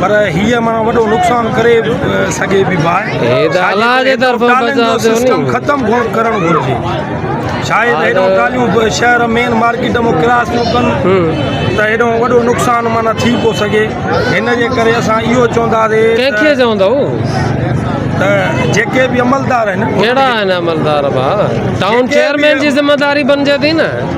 پر هي ماڻهو وڏو نقصان ڪري سگهي به باهه هي ته الله جي طرفان بچاء ٿيو ني ختم گهڻ ڪرڻ گهرجي شايد هيڏو ٽاليون شهر مين مارڪيٽ مون ڪراس ٿيو ڪن ته هيڏو وڏو نقصان معنی ٿي پو سگهي هن جي ڪري اسان اهو چوندا سي ڪنهن کي چوندا ته جيڪي به عملدار آهن ڪهڙا آهن عملدار با ٽائون چيئرمين جي ذمہ داري بنجي ٿي نه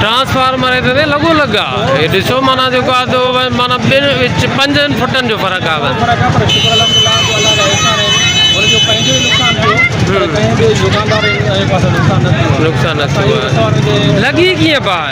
ٽرانسفارمر هيٺ تي لڳو لڳ آ هي ڏسو معنيٰ جيڪو آ سو معنيٰ ٻن وچ پنجن فٽن جو فرق آ بس نقصان نه ٿيو آ لڳي ڪيئن پئي